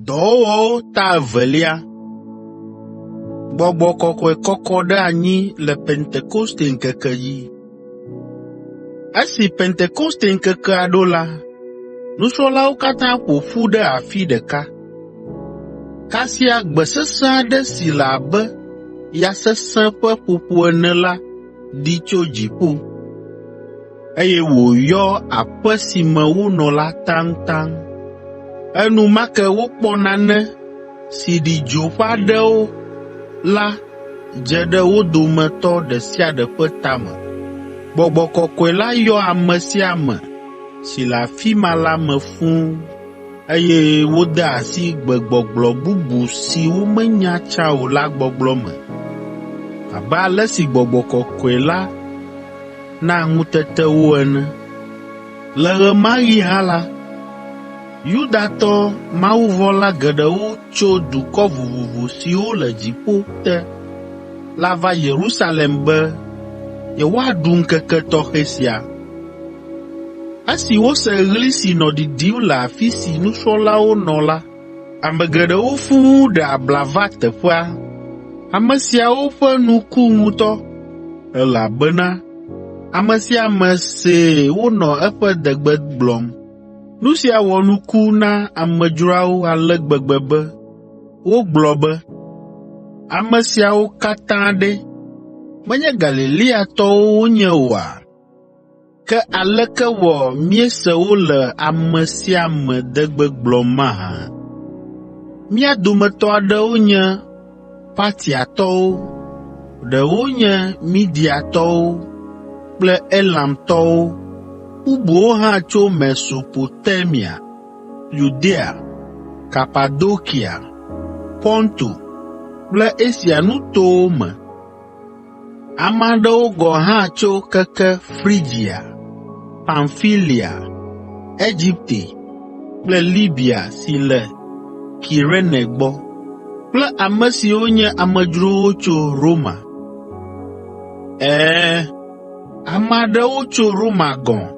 Dɔwɔwɔwo ta evelia. Gbɔgbɔ kɔkɔe kɔkɔ ɖe anyi le Pentekoste ŋkeke dzi. Esi Pentekoste ŋkekea ɖo la, nusrɔ̃lawo katã ƒo ƒu ɖe afi ɖeka. Kasia gbe sesẽ aɖe si le abe ya sesẽ ƒe ƒoƒo ene la ɖi tso dziƒo. eye wòyɔ aƒe si me wonɔ la taŋtaŋ. Enumake wokpɔ nane si ɖi dzo ƒe aɖewo la dze ɖe wo dometɔ ɖe sia ɖe ƒe tame. Gbɔgbɔ Kɔkɔe la yɔ ame sia ame si le afi ma la me fũ, eye wode asi gbegbɔgblɔ bubu si womenya tsã o la gbɔgblɔ me, abe ale si Gbɔgbɔ Kɔkɔe la na ŋutetewo ene. Le ɣemaɣi hã la, Yudatɔ mawuvɔ̃la geɖewo tso dukɔ vovovo siwo le dziƒo te la va Yerusalem be yewoaɖu ŋkeke tɔxɛ sia. Esi wose ɣli si nɔ ɖiɖim le afi si nusrɔ̃lawo nɔ la, Ame geɖewo fũu ɖe abla va teƒea. Ame siawo ƒe nu ku ŋutɔ, elabena ame sia ame see wonɔ eƒe degbe gblɔm. Nu sia wɔ nuku na amedzroawo ale gbegbe be wogblɔ be, “Ame siawo katã ɖe, menye Galileatɔwo wonye oa? Ke aleke wɔ míese wole ame sia ame de gbegblɔm mahã? Mía dometɔ aɖewo nye Partiatɔwo, ɖewo nye Mediatɔwo kple Elamtɔwo, bubuwo hã tso Mesopotamia, Yudea, Kapadokia, Ponto kple Asia nutowo me, Ame aɖewo gɔ̃ hã tso keke Frigia, Pamfilia, Egipte kple Libia si le Kirene gbɔ kple ame siwo nye amedzrowo tso Roma. Ɛ̃, ame aɖewo tso Roma gɔ̃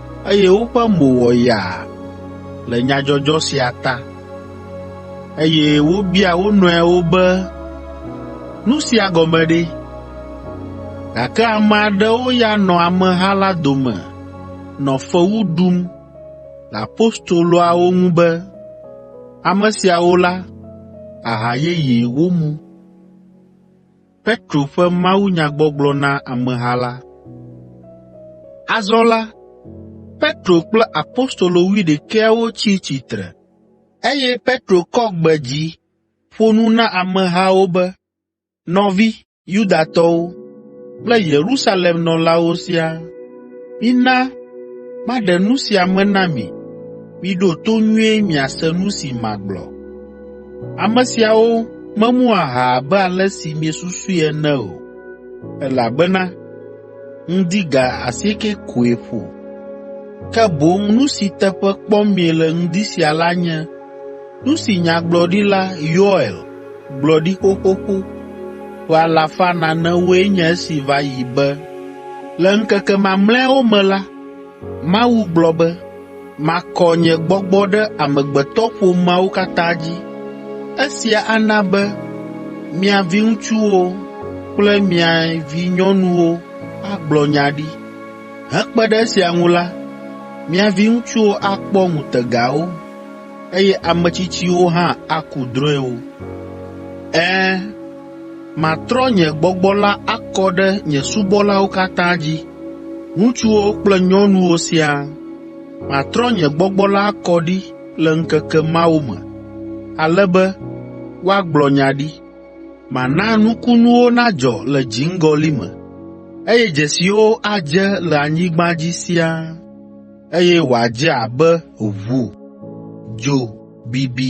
eye woƒe mo wɔ yaa le nyadzɔdzɔ sia ta, eye wobia wo nɔewo be, “Nu sia gɔme ɖe?” Gake ame aɖewo ya nɔ ameha la dome nɔ fewu ɖum le apostoloawo ŋu be, “Ame siawo la, aha yeye womu.” Petro ƒe mawunyagbɔgblɔ na ameha la. Azɔ la, Petro kple apostolo wuiɖekɛawo tsi tsitre, eye Petro kɔ gbe dzi ƒo nu na amehawo be, “Nɔvi Yudatɔwo kple Yerusalem nɔlawo siaa, mina maɖe nu sia me na mi, miɖo to nyuie miase nu si magblɔ. Ame siawo memu aha abe ale si miesusui ene o, elabena ŋdi ga asiekɛ koe ƒo. Ke boŋ nu si teƒe kpɔm miele ŋdi sia la nye nu si nyagblɔɖila Yoel gblɔ ɖi xoxoxo ƒe alafa nanewoe nye esi va yi be, “Le ŋkeke mamlɛawo me la, Mawu gblɔ be, ‘Makɔ nye gbɔgbɔ ɖe amegbetɔƒomeawo katã dzi. Esia ana be mia viŋutsuwo kple mia vinyɔnuwo agblɔ nya ɖi. Hekpe ɖe esia ŋu la, mia viŋutsuwo akpɔ ŋutegawo, eye ame tsitsiwo hã aku drɔ̃ewo. Ɛ̃, Matrɔ nye gbɔgbɔ la akɔ ɖe nye subɔlawo katã dzi, ŋutsuwo kple nyɔnuwo siaa. Matrɔ nye gbɔgbɔ la akɔ ɖi le ŋkeke mawo me, ale be woagblɔ nya ɖi. Mana nukunuwo nadzɔ le dziŋgɔli me, eye dzesiwo adze le anyigba dzi siaa, eye wòadze abe ʋu, dzo bibi,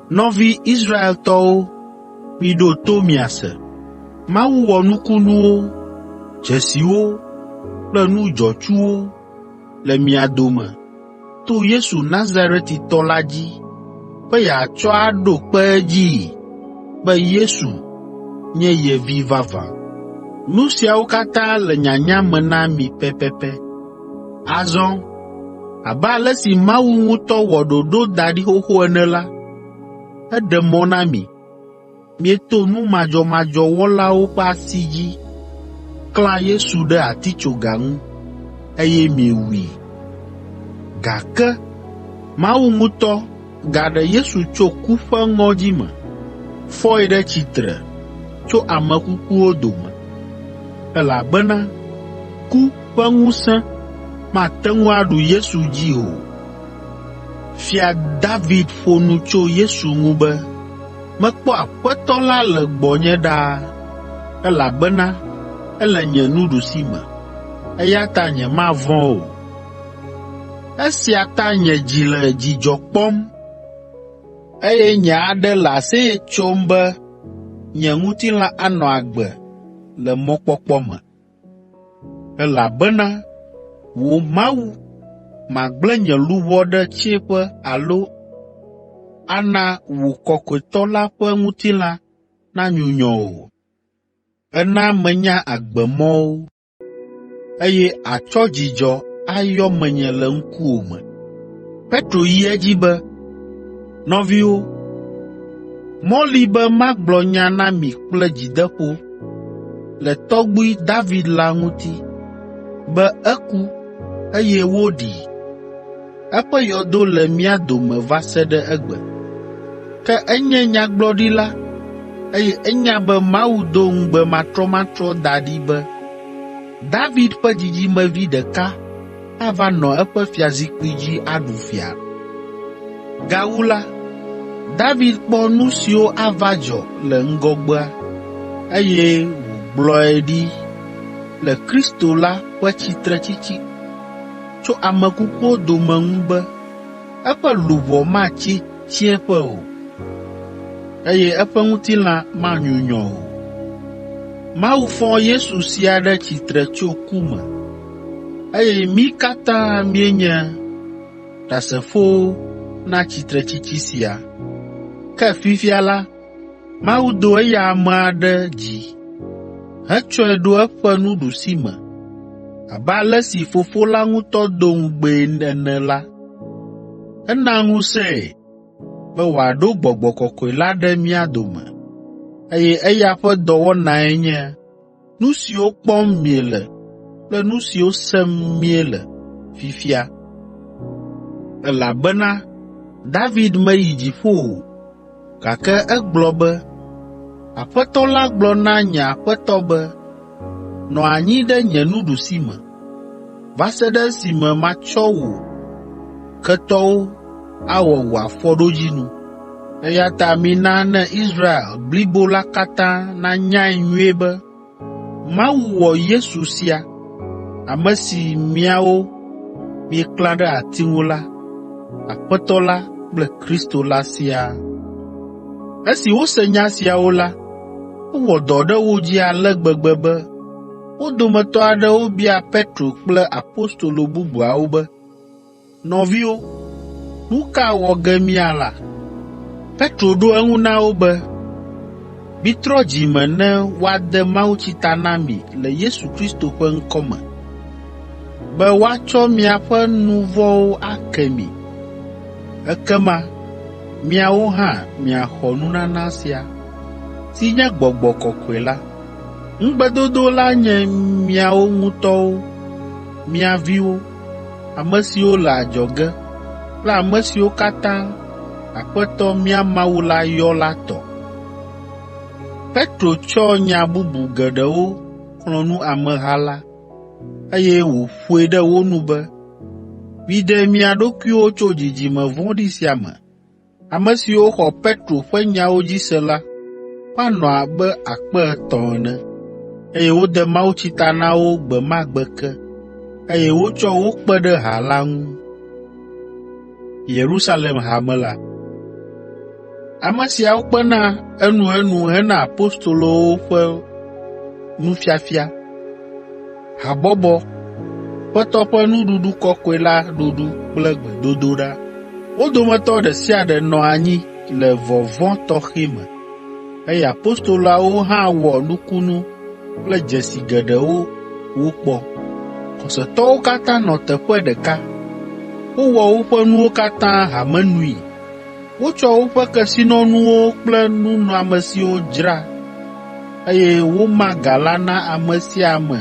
Nɔvi Israeltɔwo, miɖo to miase! Mawu wɔ nukunuwo, dzesiwo kple nu dzɔtsuwo le mia dome to Yesu Nazaretitɔ la dzi be yeatsɔ aɖo kpe edzii be Yesu nye ye Vi vavã. Nu siawo katã le nyanya me na mi pɛpɛpɛ. Azɔ abe ale si Mawu ŋutɔ wɔ ɖoɖo da ɖi xoxo ene la, eɖe mɔ na mi, mieto nu madzɔmadzɔ wɔlawo ƒe asi dzi klã Yesu ɖe atitsoga ŋu, eye miewui. Gake Mawu ŋutɔ Gaɖe Yesu tso ku ƒe ŋɔdzi me, fɔe ɖe tsitre tso ame kukuwo dome, elabena ku ƒe ŋusẽ mate ŋu aɖu Yesu dzi o. Fia David ƒo nu tso Yesu ŋu be, Mekpɔ Aƒetɔ la le gbɔnye ɖaa, elabena ele nye nuɖusi me, eya ta nyemavɔ̃ o. Esia ta nye dzi le dzidzɔ kpɔm, eye nye aɖe le aseye tsom be nye ŋutilã anɔ agbe le mɔkpɔkpɔ me. Elabena wò Mawu, màgblẽ nye luʋɔ ɖe tsiẽƒe alo ana wò kɔkɔetɔ la ƒe ŋutilã nanyunyɔ o. Èna menya agbemɔwo. eye àtsɔ dzidzɔ ayɔ menye le ŋkuwò me.” Petro yi edzi be, “Nɔviwo, mɔ li be magblɔ nya na mi kple dzideƒo le tɔgbui David la ŋuti, be eku, eye woɖii. Eƒe yɔdo le mía dome va se ɖe egbe. Ke enye nyagblɔɖila, eye enya be Mawu do ŋugbe matrɔmatrɔ da ɖi be David ƒe dzidzimevi ɖeka ava nɔ eƒe fiazikpui dzi aɖu fia. Gawu la, David kpɔ nu siwo ava dzɔ le ŋgɔgbea, eye wògblɔe ɖi le Kristo la ƒe tsitretsitsi. tso ame kukuwo dome ŋu be eƒe luʋɔ matsi tsiẽƒe o, eye eƒe ŋutilã manyunyɔ o. Mawu fɔ Yesu sia ɖe tsitre tso ku me, eye mí katã míenye Ɖasefowo na tsitretsitsi sia. Ke fifia la, Mawu do eya amea ɖe dzi hetsɔe ɖo eƒe nuɖusime abe ale si Fofo la ŋutɔ do ŋugbee ene la, ena ŋusẽe be wòaɖo Gbɔgbɔ Kɔkɔe la ɖe mía dome, eye eya ƒe dɔwɔnae nye nu siwo kpɔm miele kple nu siwo sem miele fifia. Elabena David meyi dziƒo o, gake egblɔ be, “Aƒetɔ la gblɔ na nye Aƒetɔ be, ‘Nɔ anyi ɖe nye nuɖusime, va se ɖe esime matsɔ wò ketɔwo awɔ wò afɔɖodzinu. Eya ta mina ne Israel blibo la katã nanyae nyuie be Mawu wɔ Yesu sia, ame si miawo mieklã ɖe ati ŋu la, Aƒetɔ la kple Kristo la siaa.” Esi wose nya siawo la, ewɔ dɔ ɖe wo dzi ale gbegbe be Wo dometɔ aɖewo bia Petro kple apostolo bubuawo be, “Nɔviwo, nu ka wɔ ge míala?” Petro ɖo eŋu na wo be, “Mitrɔ dzi me ne woade mawutsi ta na mi le Yesu Kristo ƒe ŋkɔ me, be woatsɔ miaƒe nu vɔ̃wo ake mi. Ekema miawo hã miaxɔ nunana sia, si nye Gbɔgbɔ Kɔkɔe la, Ŋugbedodo la nye miawo ŋutɔwo, mia viwo, ame siwo le adzɔge kple ame siwo katã Aƒetɔ mía Mawu la yɔ la tɔ. Petro tsɔ nya bubu geɖewo xlɔ̃ nu ameha la, eye wòƒoe ɖe wo nu be, “Miɖe mia ɖokuiwo tso dzidzime vɔ̃ɖi sia me, Ame siwo xɔ Petro ƒe nyawo dzi se la woanɔ abe akpe etɔ̃ ene, eye wode mawutsi ta na wo gbe ma gbe ke, eye wotsɔ wo kpe ɖe ha la ŋu. Ame siawo kpena enuenu hena apostolowo ƒe nufiafia. Habɔbɔ, Aƒetɔ ƒe Nuɖuɖu Kɔkɔe la ɖuɖu kple gbedodoɖa. Wo dometɔ ɖe sia ɖe nɔ anyi le vɔvɔ̃ tɔxɛ me, eye apostoloawo hã wɔ nukunu kple dzesi geɖewo wokpɔ. Xɔsetɔwo katã nɔ teƒe ɖeka. Wowɔ woƒe nuwo katã hame nui. Wotsɔ woƒe kesinɔnuwo kple nunɔamesiwo dzra eye woma ga la na ame sia ame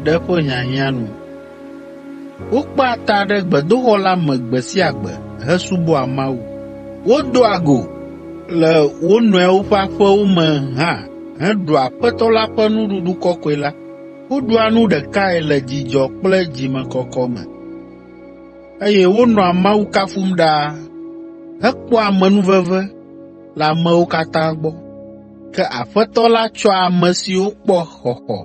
ɖe eƒe hiahiã nu. Wokpea ta ɖe gbedoxɔ la me gbe sia gbe hesubɔa Mawu. Wodoa go le wo nɔewo ƒe aƒewo me hã heɖua Aƒetɔ la ƒe nuɖuɖu kɔkɔe la. Woɖua nu ɖekae le dzidzɔ kple dzimekɔkɔ me, eye wonɔa Mawu kafum ɖaa hekpɔa amenuveve le amewo katã gbɔ. Ke Aƒetɔ la tsɔa ame siwo kpɔ xɔxɔ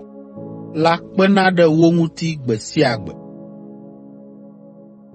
la kpena ɖe wo ŋuti gbe sia gbe.